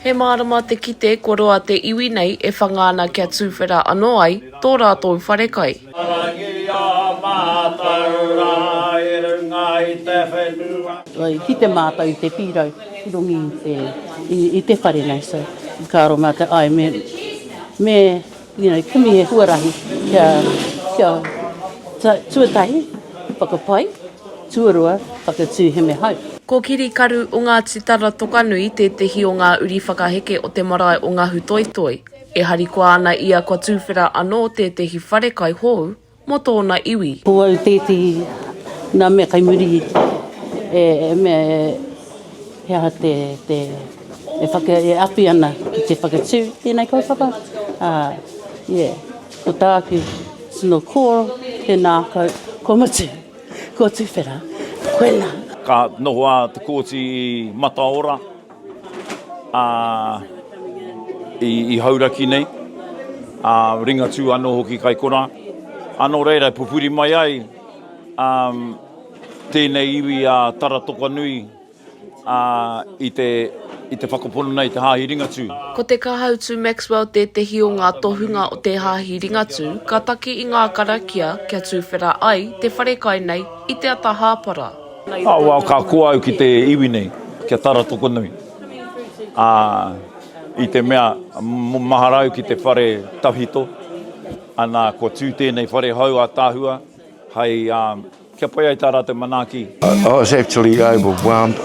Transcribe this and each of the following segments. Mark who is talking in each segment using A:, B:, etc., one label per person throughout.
A: He mārama te kite kua roa te iwi nei e whanga ana kia tuwhera anō ai tō rātou wharekai.
B: I kite mātou i te pīrau i runga i te whare nei, so i kāro mātou, āe me You know, kimi he huarahi kia, kia ta, tuatahi, whakapai, tuarua, whakatū heme hau. Ko Kiri Karu
A: o Ngāti Taratokanui tētehi o ngā uri whakaheke o te marae o Ngahutoitoi. E harikoa ana ia kua tūwhera anō tētehi wharekai hou, mō tōna iwi. Ko au tētehi
B: nā mea kai muri e mea he aha te e awhi ana ki te whakatū i tēnei kaupapa, ā, yeah, ko tāku tino kōrero, tēnā kau, kua mutu, kua tuwhera, koinā. Ka noho
C: a Te Kooti i Mataora. ā, i Hauraki nei, ā, Ringatū anō hoki kai konā. Ā, nō reira, e pupuri mai ai, ā, tēnei iwi a Tara Toka Nui, ā, i te, i te whakapono nei i te Hāhi Ringatū. Ko te Kahautu
A: Maxwell tētehi o ngā tohunga o te Hāhi Ringatū ka taki i ngā karakia kia tūwhera ai te wharekai nei i te ata hāpara. Ka wao ka
C: koa au ki te iwi nei, ki a Tara Tokonui. Ā, i te mea, mahara au ki te whare tawhito, ana, kua tū tēnei whare hou ātaahua hei, kia pai ai tā rātou manaaki. I was actually
D: overwhelmed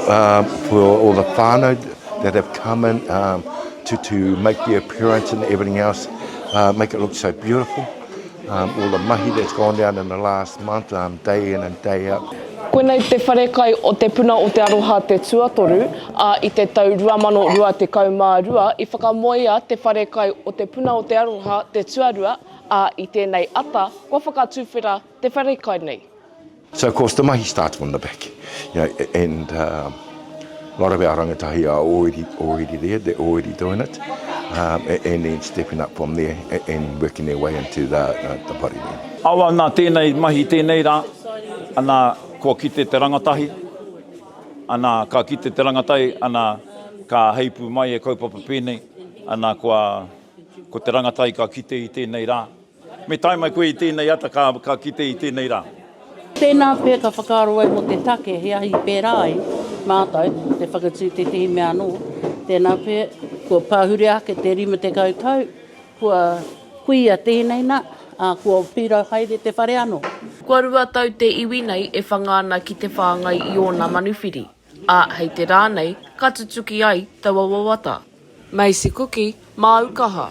D: for all the whānau that have come in to make their appearance and everything else, make it look so beautiful. Um, all the mahi that's gone down in the last month, um, day in and day out. Koinei te wharekai
A: o Te Puna o Te Aroha te tuatoru, ā, i te tau 2022 i whakamoea te wharekai o Te Puna o Te Aroha te tuarua, ā, i tēnei ata kua whakatuwhera te wharekai nei. So of course the
D: mahi starts from the back you know, and uh, a lot of our rangatahi are already, already there, they're already doing it um, and then stepping up from there and working their way into the, uh, the party. Awa nā tēnei
C: mahi tēnei rā, ana kua kite te rangatahi, ana ka kite te rangatahi, ana ka heipu mai e kaupapa pēnei, ana kua, ko te rangatahi ka kite i tēnei rā, Me tae mai koe i tēnei ata ka, ka kite i tēnei rā. Tēnā pea
B: ka whakaaro ai mō te take he ahi i pērā ai mātou, te whakatū i tētehi mea anō. Tēnā pea, kua pahure ake te 50 tau, kua kuia tēnei nā, ā, kua pirau haere te whare anō. Kua rua tau
A: te iwi nei e whanga ana ki te whāngai i ōna manuwhiri. Ā, hei te rā nei, ka tutuki ai taua wawata. Macy Kuki, māu kaha.